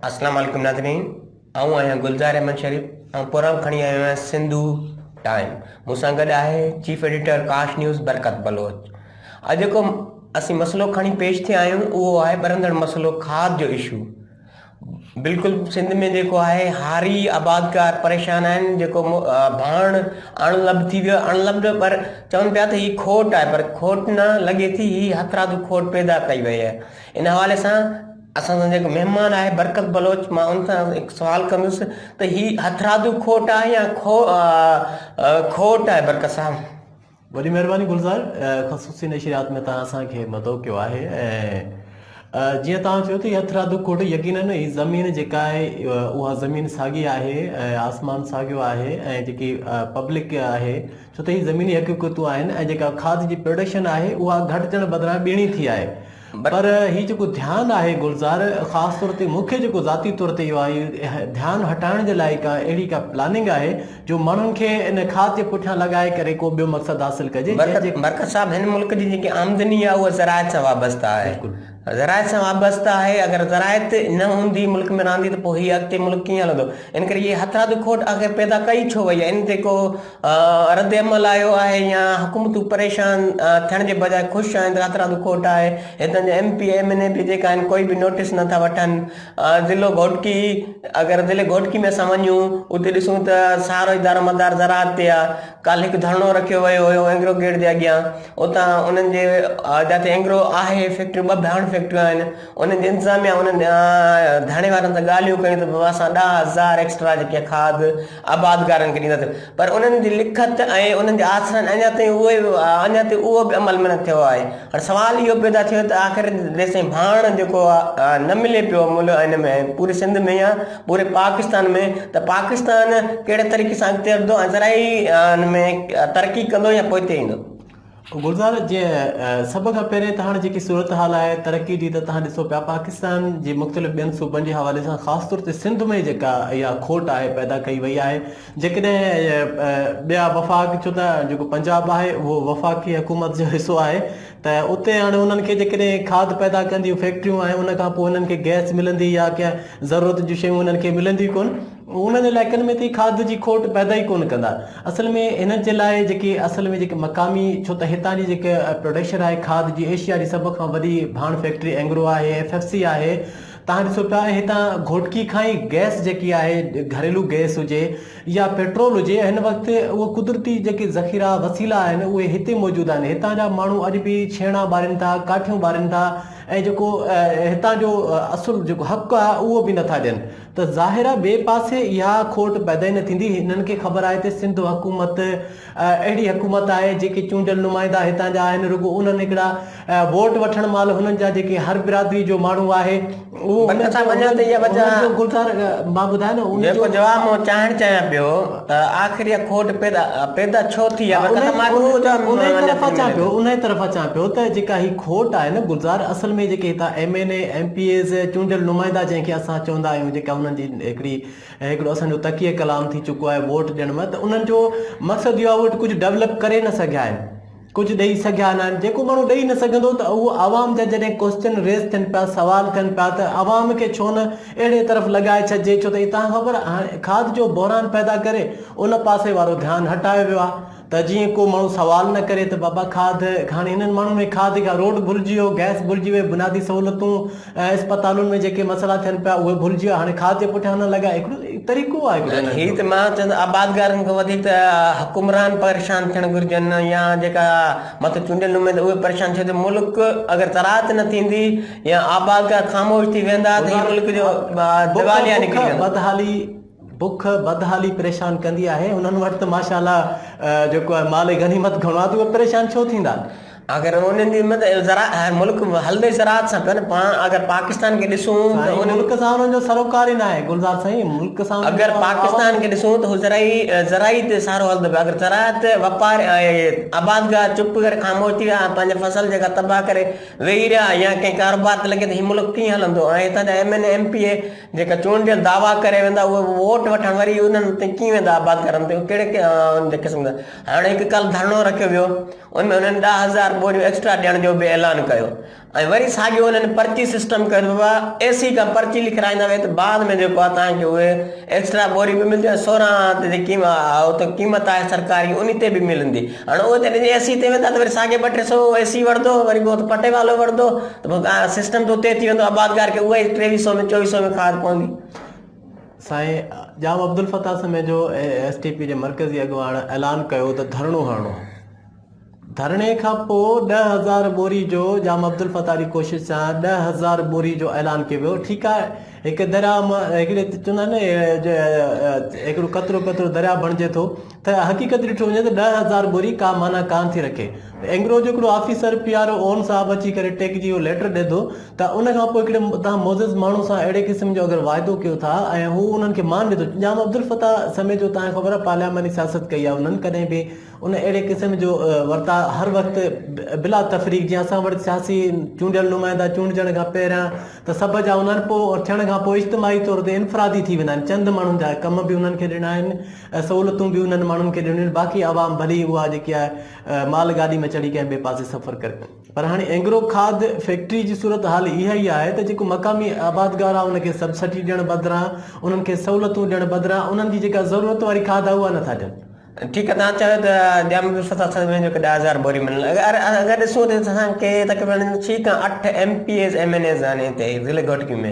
اسلام عليڪم ناظرين آئون آهيان گلزار احمد شريف آئون پروگرام کڻي آيو آهيان سنڌو ٽائيم مون سان گڏ آهي chief editor Kaash news Barkat Baloch اڄ جيڪو اسين مسئلو کڻي پيش ٿيا آهيون اهو آهي ٻرندڙ مسئلو کاڌ جو اشو بلڪل سنڌ ۾ جيڪو آهي هاري آبادگار پريشان آهن جيڪو ڀاڻ اڻ لڀ ٿي ويو اڻ لڀ نه پر چون پيا ته هي کوٽ آهي پر کوٽ نه لڳي ٿي هي هٿرادو کوٽ پيدا ڪئي وئي آهي ان حوالي سان اسان سان جيڪو مهمان آهي برڪت بلوچ مان ان سان هڪ سوال ڪندس ته هي هٿرادو کوٽ آهي يا کوٽ آهي برڪت صاحب وڏي مهرباني گلزار خصوصي نشريات ۾ توهان اسان کي مدعو ڪيو آهي ۽ جيئن توهان چيو ته هٿ رادو ڪوٽ يقينن هي زمين جيڪا آهي اها زمين ساڳي آهي ۽ آسمان ساڳيو آهي ۽ جيڪي پبلڪ آهي ڇو ته هي زميني حقيقتون آهن ۽ جيڪا کاڌ جي پروڊڪشن آهي اها گهٽجڻ بدران ٻيڻي ٿي آهي پر هي جيڪو ڌيان آهي گلزار خاص طور تي مون کي جيڪو ذاتي طور تي اهو آهي ڌيان هٽائڻ جي لاء ڪا اهڙي ڪا پلاننگ آهي جو ماڻهن کي ان کاڌ جي پٺيان لڳائي ڪري ڪو ٻيو مقصد حاصل ڪجي جنهن جي برڪت صاحب هن ملڪ جي جيڪي آمدني آهي اها زراعت سان وابسته آهي زراعت سان وابسته آهي اگر زراعت نه هوندي ملڪ ۾ رهندي ته پوء هي اڳتي ملڪ ڪيئن هلندو ان ڪري هي هٿرادو کوٽ آخر پيدا ڪئي ڇو وئي آهي ان تي ڪو ردعمل آيو آهي يا حڪومتون پريشان ٿيڻ جي بجاء خوش آهن ته هٿرادو ڪوٽ آهي هتان جا M P M N A به جيڪا آهن ڪوئي به نوٽيس نٿا وٺن ضلعو گهوٽڪي اگر ضلعي گهوٽڪي ۾ اسان وڃون اتي ڏسون ته سارو دار مدار زراعت تي آهي ڪالهه هڪ ڌرڻو رکيو ويو هيو اينگرو گيٽ جي اڳيان اتان انهن جي جتي اينگرو آهي فيڪٽريون ٻه ڀيانويهه فيڪٽريون آهن انهن جي انتظاميا انهن ڌرڻي وارن سان ڳالهيون ڪيون ته بابا اسان ڏاهه هزار ايڪسٽرا جيڪي کاڌ آبادگارن کي ڏيندا ٿيون پر انهن جي لکت ۽ انهن جي آسرن اڃا تائين اهي اڃا تائين اهو به عمل نه ٿيو آهي هاڻي سوال اهو پيدا ٿيو ته آخر جيسين ڀاڻ جيڪو آهي نه ملي پيو ملهه هن ۾ پوري سنڌ ۾ يا پوري پاڪستان ۾ ته پاڪستان ڪهڙي طريقي سان اڳتي وڌندو ۽ زرعي ان ۾ ترقي ڪندو يا پوئتي ايندو گلزار جي سڀ کان پهرين ته هاڻي جيڪي صورتحال آهي ترقي جي ته توهان ڏسو پيا پاڪستان جي مختلف ٻين صوبن جي حوالي سان خاص طور تي سنڌ ۾ جيڪا اها کوٽ آهي پيدا ڪئي وئي آهي جيڪڏهن ٻيا وفاق ڇو ته جيڪو پنجاب آهي اهو وفاقي حڪومت جو حصو آهي ته اتي هاڻي انهن کي جيڪڏهن کاڌ پيدا ڪنديون فيڪٽريون آهن ان کان پوء انهن کي گئس ملندي يا ڪنهن ضرورت جون شيون انهن کي ملنديون ڪون انهن علائقن ۾ تي کاڌ جي کوٽ پيدا ئي ڪونه ڪندا اصل ۾ هنن جي لاء جيڪي اصل ۾ جيڪي مقامي ڇو ته هتان جي جيڪي پروڊڪشن آهي کاڌ جي ايشيا جي سڀ کان وڏي ڀاڻ فيڪٽري اينگرو آهي ايف ايف سي آهي تان ڏسو پيا ۽ هتان گهوٽڪي کان ئي گئس جيڪي آهي گهريلو گئس هجي يا پيٽرول هجي هن وقت اهو قدرتي جيڪي ذخيرا وسيلا آهن اهي هتي موجود آهن هتان جا ماڻهو اڄ به ڇيڻا ٻارين ٿا ڪاٺيون ٻارين ٿا ۽ جيڪو هتان جو اصل جيڪو حق آهي اهو به نٿا ڏين ته ظاهر آهي ٻئي پاسي اها کوٽ پيدا ئي نه ٿيندي. هنن کي خبر آهي ته سنڌ حڪومت اهڙي حڪومت آهي جيڪي چونڊيل نمائندا هتان جا آهن رڳو انهن هڪڙا ووٽ وٺڻ مهل هنن جا جيڪي هر برادري جو ماڻهو آهي اهو هنن جو گلزار مان ٻڌايو نه ان جو ته آخر اها کوٽ پيدا پيدا ڇو ٿي ها انهي انهي طرف اچان پيو انهي طرف اچان پيو ته جيڪا هي کوٽ آهي نه گلزار اصل ۾ جيڪي هتان M N A M P As چونڊيل نمائندا جنهن کي اسان چوندا آهيون جيڪا انهن جي هڪڙي هڪڙو اسان جو تڪيه ڪلام ٿي چڪو آهي ووٽ ڏيڻ ۾ ته انهن جو مقصد اهو آهي اهي ڪجهه ڊولپ ڪري نه سگهيا آهن ڪجهه ڏئي سگهيا ناهن جيڪو ماڻهو ڏئي نه سگهندو ته اهو عوام جا جڏهن ڪوسچن ريز ٿين پيا سوال ٿين پيا ته عوام کي ڇو نه اهڙي طرف لڳائي ڇڏجي ڇو ته هي توهان خبر آهي کاڌ جو بحران پيدا ڪري ان پاسي وارو ڌيان هٽايو ويو آهي ته جيئن ڪو ماڻهو سوال نه ڪري ته بابا کاڌ هاڻي هنن ماڻهن ۾ کاڌ کان روڊ ڀلجي ويو گئس ڀلجي وئي بنيادي سهولتون ۽ اسپتالن ۾ جيڪي مسئلا ٿين پيا اهي ڀلجي ويا هاڻي خاص جي پٺيان هلڻ لڳا هڪڙو طريقو آهي هڪڙو هي ته مان چوان ته آبادگارن کان وڌيڪ ته حڪمران پريشان ٿيڻ گهرجن يا جيڪا مٿو چونڊيل نمائندا اهي پريشان ٿيو ته ملڪ اگر زراعت نه ٿيندي يا آبادگار خاموش ٿي ويندا ته هي ملڪ جو ديواليا نڪري ويندو بدحالي بک بدحالي پريشان ڪندي آهي انهن وٽ ته ماشاء الله جيڪو آهي مال غنيمت گهڻو آهي ته اهي پريشان ڇو ٿيندا اگر انهن جي مطلب ملڪ هلندي زراعت سان ڪن پاڻ اگر پاڪستان کي ڏسون ته ان ملڪ سان انهن جو سروڪار ئي نه آهي گلزار سائين ملڪ سان اگر پاڪستان کي ڏسون ته زرعي زرعي تي سارو هلندو پيو اگر زراعت واپار آبادگار چپ ڪري خاموش ٿي ويا پنهنجي فصل جيڪا تباهه ڪري ويهي رهيا يا ڪنهن ڪاروبار تي لڳي ته هي ملڪ ڪيئن هلندو ۽ هتان جا M N M P A جيڪا چونڊيل دعويٰ ڪري ويندا اهي ووٽ وٺڻ وري انهن تي ڪيئن ويندا آباد ڪرڻ تي ڪهڙي قسم جا هاڻي هڪ ڪل ڌرڻو رکيو ويو ان ۾ انهن ڏهه هزار ٻوريون ايڪسٽرا ڏيڻ جو به اعلان ڪيو ۽ وري ساڳيو انهن پرچي سسٽم ڪيو ويو اي سي کان پرچي لکرائيندا ويا ته بعد ۾ جيڪو آهي تنهن کي اهي ايڪسٽرا ٻوري به ملنديون ۽ سورهن تي جيڪي قيمت آهي سرڪاري ان تي به ملندي هاڻ اهو جڏهن جي اي سي تي ويندا ته وري ساڳي ٻه ٽي سو اي سي وڻندو وري پوء هت پٽي والو وڻندو ته پوء سسٽم ته اتي ئي ٿي ويندو آبادگار کي اهو ئي ٽيويهه سو ۾ چويهه سو ۾ کار پوندي. سائين Jam Abdulfattah Samejo S T P جي مرڪزي اڳواڻ اعلان ڪيو ته ڌرڻو هڻڻو ڌرڻي کان پوء ڏهه هزار ٻوري جو ڄام عبدالفتاح جي ڪوشش سان ڏهه هزار ٻوري جو اعلان ڪيو ويو ٺيڪ آهي هڪ درياء مان هڪڙي چوندا آهن نه هڪڙو قطرو قطرو درياء بڻجي ٿو ته حقيقت ڏٺو وڃي ته ڏهه هزار ٻوري ڪا معنيٰ ڪانه ٿي رکي ته اينگرو جو هڪڙو آفيسر پي آر او اون صاحب اچي ڪري ٽيڪ جي اهو ليٽر ڏئي ٿو ته ان کان پوء هڪڙي تهان معزز ماڻهو سان اهڙي قسم جو اگر واعدو ڪيو ٿا ۽ هو انهن کي مان ڏيندو ڄام عبدالفتاح سميت جو تهان کي خبر آهي پارلياماني سياست ڪئي آهي انهن ڪڏهن به ان اهڙي قسم جو ورتاء هر وقت بلا تفريق جيئن اسان وٽ سياسي چونڊيل نمائندا چونڊجڻ کان پهريان ته سڀ جا هوندا آهن پوء ٿيڻ کان پوء اجتماعي طور تي انفرادي ٿي ويندا آهن چند ماڻهن جا ڪم به انهن کي ڏنا آهن ۽ سهولتون به انهن ماڻهن کي ڏنيون باقي عوام ڀلي ئي اها جيڪي آهي مال گاڏي ۾ چڙهي ڪنهن ٻئي پاسي سفر ڪري پر هاڻي اينگرو کاڌ فيڪٽري جي صورت حال اها ئي آهي ته جيڪو مقامي آبادگار آهي ان کي سبسڊي ڏيڻ بدران انهن کي سهولتون ڏيڻ بدران انهن جي جيڪا ضرورت واري کاڌ آهي اها نٿا ڏين ٺيڪ آهي تهان چيو ته ڄام جو ستا سنڌ ۾ جيڪي ڏهه هزار بوري ملن اگر ڏسون ته اسان کي تقريبن ڇهه کان اٺ M P As M N As آهن هتي ضلعي گهوٽڪي ۾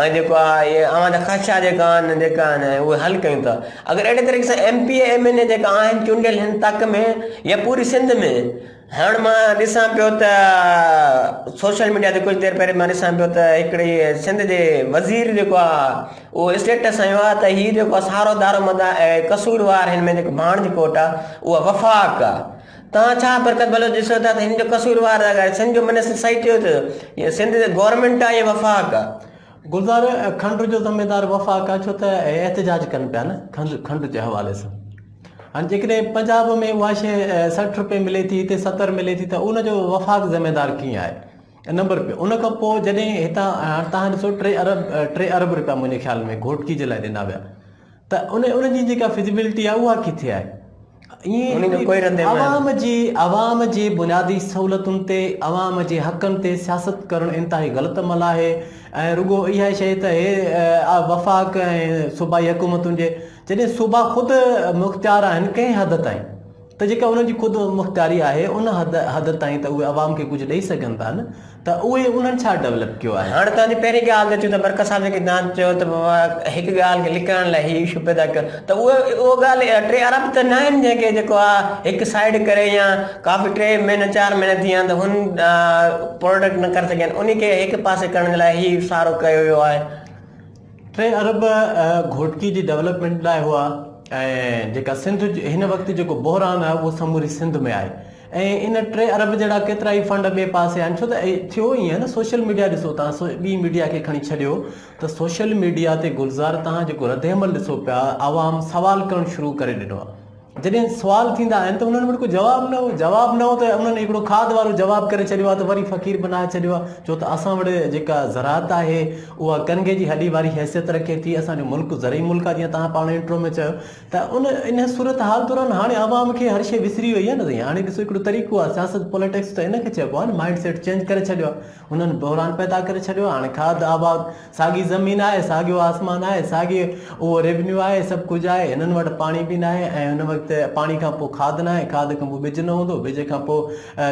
۽ جيڪو آ اهي اوهان جا خدشا جيڪا آهن جيڪا آهن اهي حل ڪيون ٿا اگر اهڙي طريقي سان M P M N A جيڪا آهن چونڊيل هن تڪ ۾ يا پوري سنڌ ۾ هاڻ مان ڏسان پيو ته سوشل ميڊيا تي ڪجهه دير پهرين مان ڏسان پيو ته هڪڙي سنڌ جي وزير جيڪو آ اهو اسٽيٽس هنيو آ ته هي جيڪو آ سارو دارو مدار قصور وار هن ۾ جيڪو ڀاڻ جي ڪوٽ آ اهو وفاق آ توهان ڇا برڪت بلوچ ڏسو ٿا ته هن جو قصوروار آهي سنڌ جو منسٽر صحيح چيو ته هي سنڌ جي گورنمينٽ آهي يا وفاق آهي. گلزار کنڊ جو ذميدار وفاق آهي ڇو ته احتجاج ڪن پيا نه کنڊ کنڊ جي حوالي سان هاڻي جيڪڏهن پنجاب ۾ اها شي سٺ رپئي ملي ٿي هتي ستر ملي ٿي ته ان جو وفاق ذميدار ڪيئن آهي نمبر ٻيو ان کان پوء جڏهن هتان هاڻي تهان ڏسو ٽي ارب ٽي ارب رپيا منهنجي خيال ۾ گهوٽڪي جي لاء ڏنا ويا ته ان ان جي جيڪا فزيبلٽي آهي اها ڪٿي آهي ان جو ڪوئي رد عمل عوام جي عوام جي بنيادي سهولتن تي عوام جي حقن تي سياست ڪرڻ انتهائي غلط عمل آهي ۽ رڳو اها شيء ته هي آ، وفاق ۽ صوبائي حڪومتن جي جڏهن صوبا خود مختيار آهن ڪنهن حد تائين ته جيڪا انهن جي خود مختياري آهي ان حد حد تائين ته اهي عوام کي ڪجهه ڏئي سگهن ٿا نه ته اهي انهن ڇا ڊولپ ڪيو آهي. هاڻ توهان جي پهرين ڳالهه ته اچون ته مرڪز صاحب جيڪي دانت چيو ته هڪ ڳالهه کي لڪائڻ لاء هي اشو پيدا ڪيو ته اهو اهو ڳالهه ٽي ارب ته ناهن جنهن کي جيڪو آ هڪ سائيڊ ڪري يا ڪافي ٽي مهينا چار مهينا ٿي ويا آهن ته هن پروڊڪٽ نه ڪري سگهيا آهن انهي کي هڪ پاسي ڪرڻ جي لاء هي سارو ڪيو ويو آهي. ٽي ارب گهوٽڪي جي ڊولپمينٽ لاء هئا ۽ جيڪا سنڌ هن وقت جيڪو بحران آهي اهو سموري سنڌ ۾ آهي ۽ ان ٽي ارب جهڙا ڪيترا ئي فنڊ ٻئي پاسي آهن ڇو ته ٿيو ائين نه سوشل ميڊيا ڏسو تان ٻي ميڊيا کي کڻي ڇڏيو ته سوشل ميڊيا تي گلزار تان جيڪو رد عمل ڏسو پيا عوام سوال ڪرڻ شروع ڪري ڏنو آهي جڏهن سوال ٿيندا آهن ته انهن وٽ ڪو جواب نه هو جواب نه هو ته انهن هڪڙو کاڌ وارو جواب ڪري ڇڏيو آهي ته وري فقير بنائي ڇڏيو آهي ڇو ته اسان وٽ جيڪا زراعت آهي اها ڪنگهي جي هڏي واري حيثيت رکي ٿي اسان جو ملڪ زرعي ملڪ آهي جيئن توهان پاڻ انٽرو ۾ چيو ته ان ان صورتحال دوران هاڻي عوام کي هر شيء وسري وئي آهي نه سائين هاڻي ڏسو هڪڙو طريقو آهي سياست پوليٽڪس ته ان کي چئبو آهي نه مائنڊ سيٽ چينج ڪري ڇڏيو آهي انهن بحران پيدا ڪري ڇڏيو آهي هاڻي کاڌ آباد ساڳي زمين آهي، ساڳيو آسمان آهي، ساڳي اهو ريونيو آهي، سڀ ڪجهه آهي، هنن وٽ پاڻي به ناهي ۽ هن وقت پاڻي کان پوء کاڌ ناهي، کاڌ کان پوء ٻج نه هوندو، ٻج کان پوء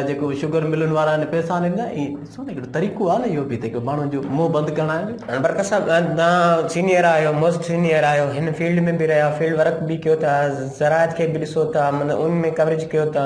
جيڪو شگر ملن وارا آهن پئسا نه ڏيندا، ائين ڏسو نه هڪڙو طريقو آهي نه اهو به ته هڪ ماڻهو جو منهن بند ڪرڻ آهي نه. هاڻي برڪت صاحب توهان سينئر آهيو موسٽ سينئر آهيو هن فيلڊ ۾ به رهيا فيلڊ ورڪ به ڪيو ٿا زراعت کي به ڏسو ٿا مطلب ان ۾ ڪوريج ڪيو ٿا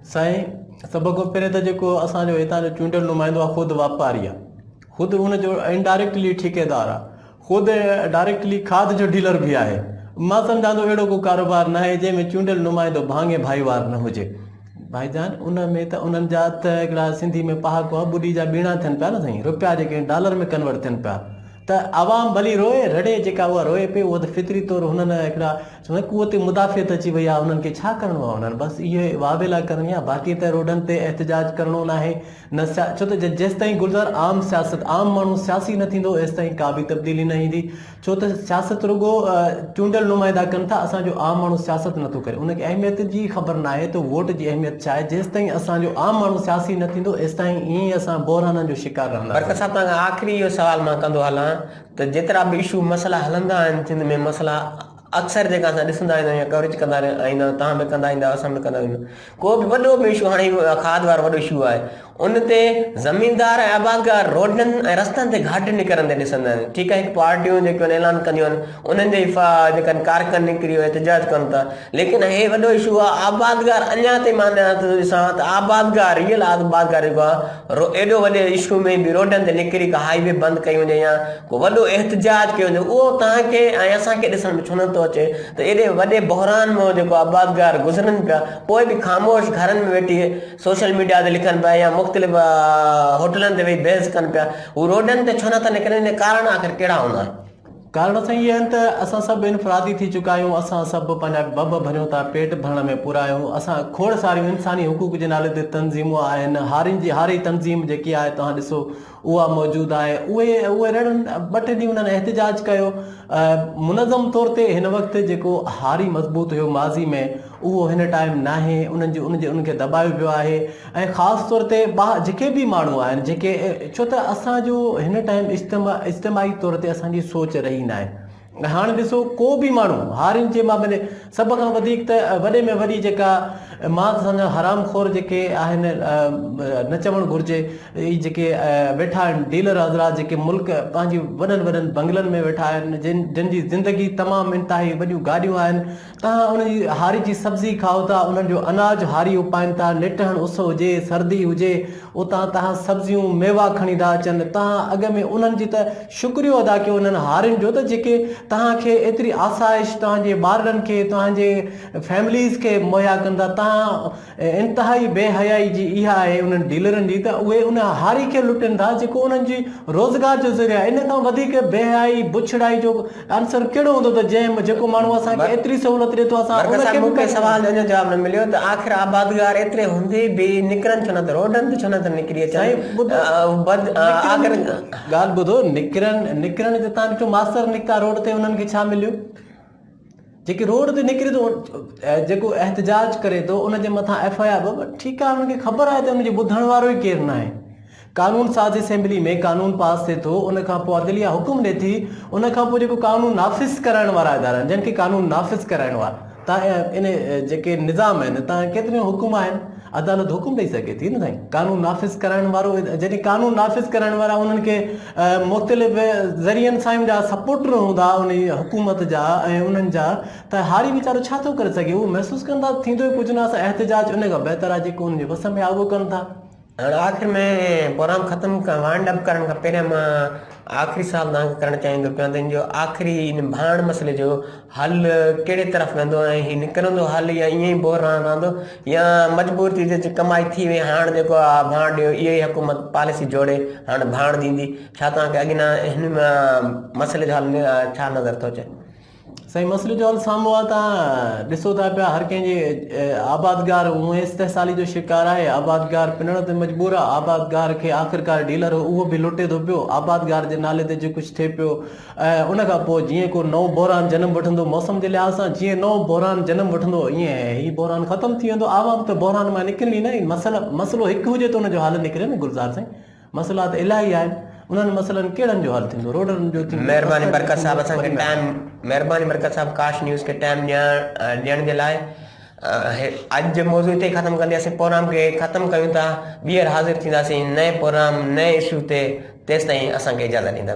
سائين سڀ کان پهرين ته جيڪو اسان جو هتان جو چونڊيل نمائندو آهي خود واپاري آهي خود ان جو انڊائريڪٽلي ٺيڪيدار آهي خود ڊائريڪٽلي کاڌ جو ڊيلر به آهي مان سمجهان ٿو اهڙو ڪو ڪاروبار ناهي جنهن ۾ چونڊيل نمائندو ڀاڱي ڀائيوار نه هجي ڀائي جان ان ۾ ته انهن جا ته هڪڙا سنڌي ۾ پهاڪو آهي ٻڏي جا ٻيڻا ٿين پيا نه سائين روپيا جيڪي ڊالر ۾ ڪنورٽ ٿين پيا ته عوام ڀلي روئي رڙي جيڪا اها روئي پئي اهو ته فطري طور هنن هڪڙا چونداسين قوت مدافعت اچي وئي آهي هنن کي ڇا ڪرڻو آهي هنن بس اهي واويلا ڪرڻي آهي باقي ته روڊن تي احتجاج ڪرڻو ناهي نه سيا ڇو ته جيستائين گلزار عام سياست عام ماڻهو سياسي نه ٿيندو ايستائين ڪا به تبديلي نه ايندي ڇو ته سياست رڳو چونڊيل نمائندا ڪن ٿا اسان جو عام ماڻهو سياست نه ٿو ڪري ان کي اهميت جي ئي خبر ناهي ته ووٽ جي اهميت ڇا آهي جيستائين اسان جو عام ماڻهو سياسي نه ٿيندو ايستائين ائين ئي اسان بحرانن جو شڪار رهنداسين. برڪت صاحب توهان کان آخري اهو سوال مان ڪندو هلان ته جيترا به اشو مسئلا هلندا آهن سنڌ ۾ مسئلا اڪثر جيڪا اسان ڏسندا ايندا آهيون يا ڪوريج ڪندا ايندا آهيون توهان به ڪندا ايندا آهيو اسان به ڪندا ايندا آهيون ڪو به وڏو به اشو هاڻي کاڌ وارو وڏو اشو آهي ان تي زميندار ۽ آبادگار روڊن ۽ رستن تي گهاٽي نڪرن تي ڏسندا آهن ٺيڪ آهي پارٽيون جيڪيون آهن اعلان ڪنديون آهن انهن جي فا جيڪا ڪارڪن نڪري ويا احتجاج ڪن ٿا ليڪن هي وڏو اشو آهي آبادگار اڃا تائين مان نه ٿو ڏسان ته آبادگار ريئل آبادگار جيڪو آهي رو ايڏو وڏي اشو ۾ به روڊن تي نڪري ڪا هاء وي بند ڪئي وڃي يا ڪو وڏو احتجاج ڪيو وڃي اهو توهان کي ۽ اسان کي ڏسڻ ۾ ڇو نه ٿو اچي ته ايڏي وڏي بحران مان جيڪو آبادگار گذرن پيا پوء به خاموش گهرن ۾ ويٺي سوشل ميڊيا تي لکن پيا يا مختلف هوٽلن تي ويهي بحث ڪن پيا هو روڊن تي ڇو نه ٿا نڪرن ان ڪارڻ آخر ڪهڙا هوندا ڪارڻ سائين اهي آهن ته اسان سڀ انفرادي ٿي چڪا آهيون اسان سڀ پنهنجا ڀڀ ڀريون ٿا پيٽ ڀرڻ ۾ پورا آهيون اسان کوڙ ساريون انساني حقوق جي نالي تي تنظيمون آهن هارين جي هاري تنظيم جيڪي آهي توهان ڏسو اها موجود آهي اهي اهي رڙ ٻه ٽي ڏينهن انهن احتجاج ڪيو منظم طور تي هن وقت جيڪو هاري مضبوط هيو ماضي ۾ اهو هن ٽائم ناهي انهن جي ان جي ان کي دٻايو پيو آهي ۽ خاص طور تي با جيڪي به ماڻهو آهن جيڪي ڇو ته اسانجو هن ٽائم اجتماع اجتماعي طور تي اسانجي سوچ رهي ناهي هاڻ ڏسو ڪو به ماڻهو هارين جي مان ملي سڀ کان وڌيڪ ته وڏي ۾ وڏي جيڪا مان سمجهان حرام خور جيڪي آهن نه چوڻ گهرجي هي جيڪي ويٺا آهن ڊيلر حضرات جيڪي ملڪ پنهنجي وڏن وڏن بنگلن ۾ ويٺا آهن جن جن جي زندگي تمام انتهائي وڏيون گاڏيون آهن توهان ان جي هاري جي سبزي کائو ٿا، انهن جو اناج هاري اپائين ٿا، نٽهڻ اس هجي، سردي هجي، اتان توهان سبزيون، ميوا کڻي ٿا اچن، توهان اڳ ۾ انهن جي ته شڪريو ادا ڪيو انهن هارين جو ته جيڪي توهان کي ايتري آسائش توهان جي ٻارڙن کي، توهان جي فيمليز کي مهيا ڪن ٿا، توهان ۽ انتهائي بي حيائي جي اها آهي انهن ڊيلرن جي ته اهي ان هاري کي لٽن ٿا جيڪو انهن جي روزگار جو ذريعو آهي. ان کان وڌيڪ بي حيائي، بڇڙائي جو عنصر ڪهڙو هوندو ته جنهن جيڪو ماڻهو اسان کي ايتري سهولت ڏئي ٿو اسان ان کي به مون کي سوال جو اڃا جواب نه مليو ته آخر آبادگار ايتري هوندي به نڪرن ڇو نه ته روڊن تي ڇو نه ٿا نڪري اچن سائين ٻڌو بد آخر ڳالهه ٻڌو نڪرن نڪرن جو تان ڏٺو ماستر نڪتا روڊ تي انهن کي ڇا مليو. جيڪي روڊ تي نڪري ٿو جيڪو احتجاج ڪري ٿو ان جي مٿان ايف آء آر به ٺيڪ آهي ان کي خبر آهي ته ان جو ٻڌڻ وارو ئي ڪير ناهي قانون ساز اسيمبلي ۾ قانون پاس ٿئي ٿو ان کان پوء عدليه حڪم ڏئي ٿي ان کان پوء جيڪو قانون نافذ ڪرائڻ وارا ادارا آهن جن کي قانون نافذ ڪرائڻو آهي تان ان جيڪي نظام آهن تان ڪيتريون حڪم آهن عدالت حڪم ڏئي سگهي ٿي نه سائين قانون نافذ ڪرائڻ وارو جڏهن قانون نافذ ڪرائڻ وارا انهن کي مختلف ذريعن سان جا سپورٽر هوندا ان حڪومت جا ۽ انهن جا ته هاري ويچارو ڇا ٿو ڪري سگهي اهو محسوس ڪن ٿا ٿيندو ئي ڪجهه نه اسان احتجاج ان کان بهتر آهي جيڪو انهن جي وس ۾ آهي اهو ڪن ٿا هاڻي آخر ۾ پروگرام ختم وائنڊ اپ ڪرڻ کان پهريان مان آخري سوال تان کي ڪرڻ چاهيندو پيان ته ان جو آخري ان ڀاڻ مسئلي جو هل ڪهڙي طرف ويندو ۽ هي نڪرندو هل يا ائين ئي بوهه رهڻ رهندو يا مجبور ٿي جي ڪمائي ٿي وئي هاڻ جيڪو آ ڀاڻ ڏيو اهو ئي حڪومت پاليسي جوڙي هاڻ ڀاڻ ڏيندي ڇا توهان کي اڳ نه هن مسئلي جو حل ڇا نظر ٿو اچي سائين مسئلي جو حل سامهون آ تان ڏسو ٿا پيا هر ڪنهن جي آبادگار اونهي استحصالي جو شڪار آهي آبادگار پنڻ تي مجبور آ آبادگار کي آخرڪار ڊيلر اهو به لٽي ٿو پيو آبادگار جي نالي تي جي ڪجهه ٿئي پيو ۽ ان کان پوء جيئن ڪو نئون بحران جنم وٺندو موسم جي لحاظ سان جيئن نئون بحران جنم وٺندو ايئن هي بحران ختم ٿي ويندو عوام ته بحران مان نڪرن ئي نه ۽ مسئلا مسئلو هڪ هجي ته ان جو حل نڪري نه گلزار سائين مسئلا ته الاهي آهن انهن مسئلن ڪهڙن جو حل ٿيندو روڊن جو ٿيندو مهرباني برڪت صاحب اسان کي ٽائم مهرباني برڪت صاحب ڪاش نيوز کي ٽائم ڏيڻ ڏيڻ جي لاء اڄ جو موضوع هتي ختم ڪندي اسين پروگرام کي ختم ڪيون ٿا ٻيهر حاضر ٿينداسين نئين پروگرام نئين اشو تي تيسين اسان کي اجازت ڏيندا